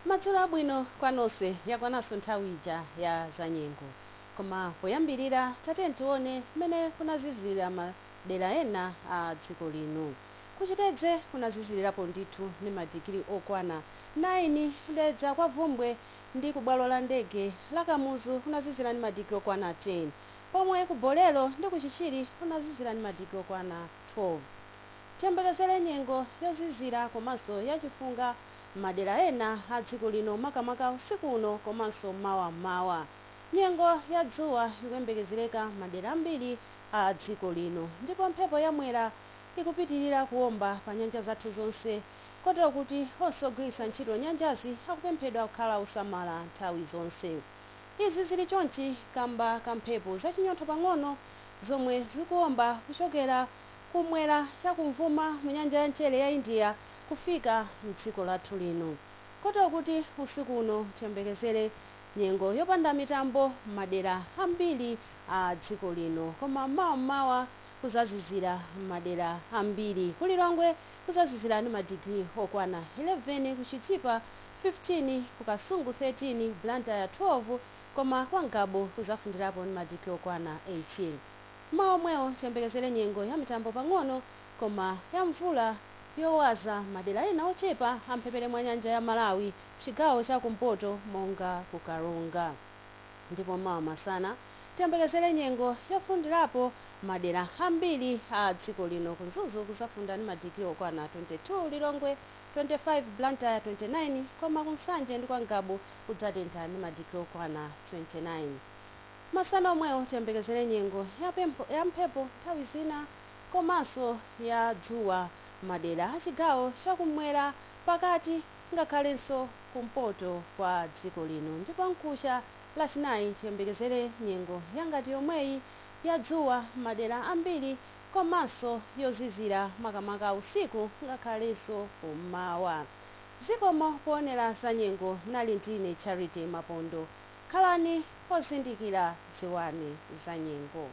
madzulo abwino kwa nonse yakwananso nthawi ija ya zanyengo koma poyambirira tatiyeni tione mmene kunazizirira madera ena a dziko lino kuchitedze kunazizirirapo ndithu ndi madigiri okwana 9 kudedza kwa vumbwe ndi ku bwalo la ndege la kamuzu kunazizira ndi madigiri okwana 10 pomwe ku bolero ndi ku chichiri kunazizira ndi madigiri okwana 12 Tiyembekezere nyengo yozizira komanso ya chifunga m'madera ena a dziko lino makamaka usiku uno komanso mawa m'mawa. Nyengo ya dzuwa ikuyembekezereka m'madera ambiri a dziko lino ndipo mphepo ya Mwera ikupitirira kuomba pa nyanja zathu zonse kotero kuti onse ogwiritsa ntchito nyanjazi akupemphedwa kukhala osamala nthawi zonse. Izi zili chonchi kamba ka mphepo zachinyontho pang'ono zomwe zikuomba kuchokera kum'mwera chakumvuma mu nyanja ya mchere ya India kufika m'dziko lathu lino. Kotero kuti usiku uno tiyembekezere nyengo yopanda mitambo m'madera ambiri a dziko lino koma m'mawa m'mawa kuzazizira m'madera ambiri. Ku Lilongwe kuzazizira ndi madigiri okwana 11, ku Chitipa 15, ku Kasungu 13, Blantyre 12 koma kwa Ngabu kuzafundirapo ndi madigiri okwana 18. Mmawa omwewo tiyembekezere nyengo ya mitambo pang'ono koma ya mvula yowaza madera ena ochepa a m'mphepete mwa nyanja ya Malawi m'chigawo cha kumpoto monga ku Karonga. Ndipo mawa masana tiyembekezere nyengo yofundirapo m'madera ambiri a dziko lino. Ku Mzuzu kuzafunda ndi madigiri okwana 22, Lilongwe 25, Blantyre 29 koma ku Nsanje ndi kwa Ngabu kudzatentha ndi madigiri okwana 29. Masana omwewo tiyembekezere nyengo ya mphepo nthawi zina komanso ya dzuwa madera a chigawo cha kummwera, pakati ngakhalenso kumpoto kwa dziko lino ndipo mkucha Lachinayi tiyembekezere nyengo ya ngati yomweyi ya dzuwa madera ambiri komanso yozizira makamaka usiku ngakhalenso kummawa. Zikomo poonera za nyengo mnali ndine Charity Mapondo. Khalani ozindikira dziwani za nyengo.